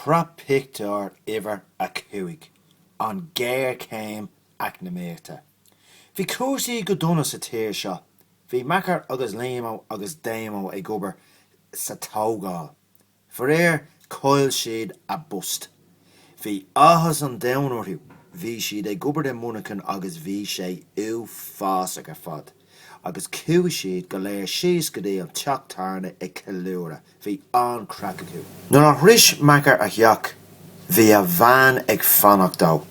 tSraith pictiúr uimhir a cúig an ghéarchéim eacnamaíochta. Bhí cúrsaí go dona sa tír seo. Bhí Macker agus Liamo agus Damo ag obair sa tógáil. Faraor chaill siad a bpost. Bhí áthas an domhain orthu. Bhí siad ag obair i Muineachán agus bhí sé uafásach ar fad. agus chuaigh siad go léir síos go dtí an teach tábhairne ag ceiliúradh. Bhí an-chraic acu. Nuair a shrois Macker a theach, bhí a bhean ag fanacht dó.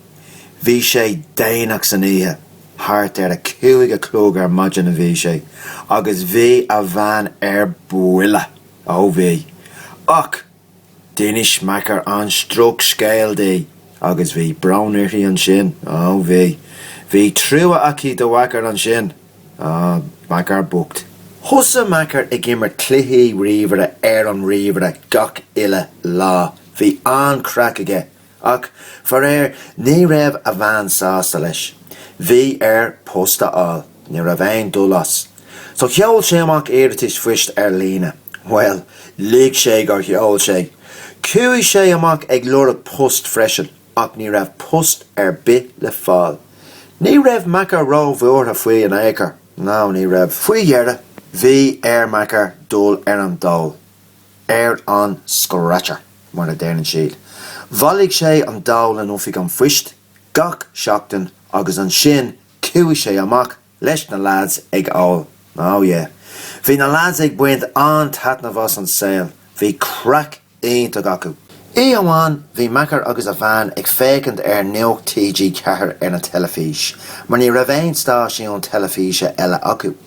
Bhí sé déanach san oíche, thart ar a cúig a chlog ar maidin a bhí sé, agus bhí a bhean ar buile. Ó bhí. Ach. D'inis Macker an drochscéal di agus bhí brón uirthi ansin, á bhí. Bhí trua aici do Mhacker ansin, á, Macker bocht. Thosaigh Macker ag imirt cluichí ríomhaire ar an ríomhaire gach uile lá. Bhí an-chraic aige Ach, faraoir, ní raibh a bhean sásta leis. Bhí air post a fháil. Ní raibh aon dul as. So sheol sé amach iarratais phoist ar líne. Bhuel, lig sé gur sheol sé! Chuaigh sé amach ag lorg post freisin ach ní raibh post ar bith le fáil. Ní raibh Macker ró-bhuartha faoi in ao'chor. No, ní raibh. Faoi dheireadh, bhí ar Macker dul ar an dól. ar an scratcher, mar a deireann siad. Bhailigh sé an dól in Oifig an Phoist gach seachtain agus ansin chuaigh sé amach leis na lads ag ól. Oh yeah. Bhí na lads ag baint an-taitneamh as an saol. Bhí craic iontach acu. Oíche amháin bhí Macker agus a bhean ag féachaint ar Nuacht TG4 ar an teilifís, mar ní raibh aon stáisiún teilifíse eile acu.